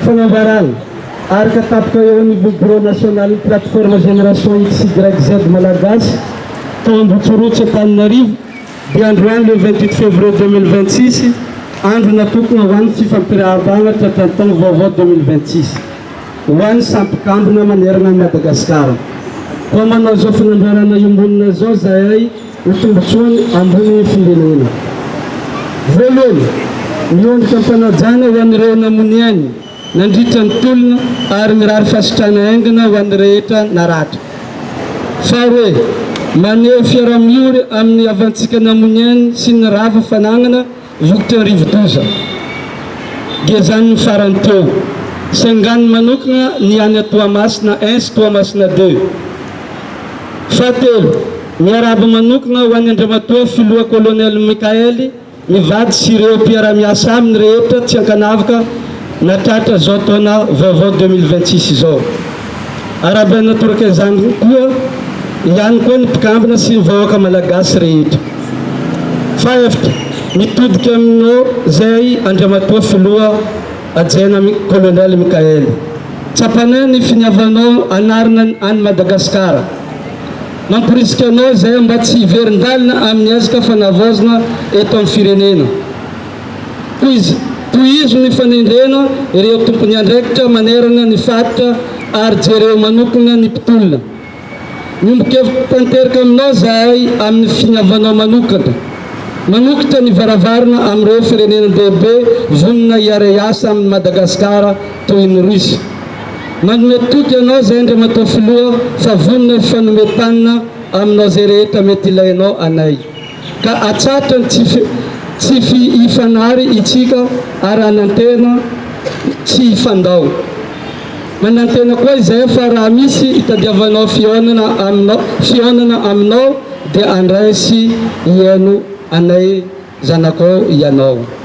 Fanambarana, Araka tapitra eo anivon'ny Birao nasionalin'ny Plateforme Génération XYZ Malagasy tao Ambohitsorotsy Antananarivo dia androany le vingt huit février deux mille vingt six andro natokona ho an'ny fifampirahabana tratran'ny taona vaovao deux mille vingt six ho an'ny samy mpikambana manerana an'i Madagasikara. Koa manao izao fanambarana iombonana izao zahay. Ny tombontsoany ambony findrenena. Voalohany, miondrika am-panajana ho an'ireo namono ainy nandritra ny tolona ary mirary fasitrana haingana ho an'ny rehetra naratra. Faharoe, maneho fiaraha-miory amin'ny havantsika namono ainy sy ny rava fanagnana, Voky rivodoza. Gezaniny farany teo. Sanganiny manokana ny any Toamasina I sy Toamasina ii. Fahatelo, miarahaba manokana ho an'i Andriamatoa Filoha Kolonely Michael, ny vady sy ireo mpiara-miasa aminy rehetra tsy ankanavaka nahatratra izao taona vaovao deux mille vingt-six izao. Arahaba natoraka izany koa ihany koa ny mpikambana sy ny vahoaka Malagasy rehetra. Fahefitra, mitodika aminao izay Andriamatoa Filoha Hajaina Colonel Michael. Tsapanay ny finiavanao hanarina an'i Madagasikara. Mamporisika anao izay mba tsy hiverin-dalana amin'ny ezaka fanavaozana eto amin'ny firenena. Tohizo, tohizo ny fanendrena ireo tompon'andraikitra manerana ny faritra ary jereo manokana ny mpitolona. Miombon-kevitra tanteraka aminao izahay amin'ny finiavanao manokana. Manokitra ny varavarana amin'ireo firenena-dehibe vonona hiara-hiasa amin'i Madagasikara toy ny Russie. Manome toky anao izahay Andriamatoa Filoha fa vonona hifanome tanana aminao izay rehetra mety ilainao anay. ka hatsatra ny tsy fifanary itsika ary hanantena tsy hifandao. Manantena koa izahay fa raha misy itadiavanao fihaonana aminao fihaonana aminao dia andray sy hihaino anay zanakao ianao.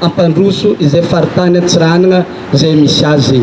hampandroso izay faritany Antsiranana izay misy azy.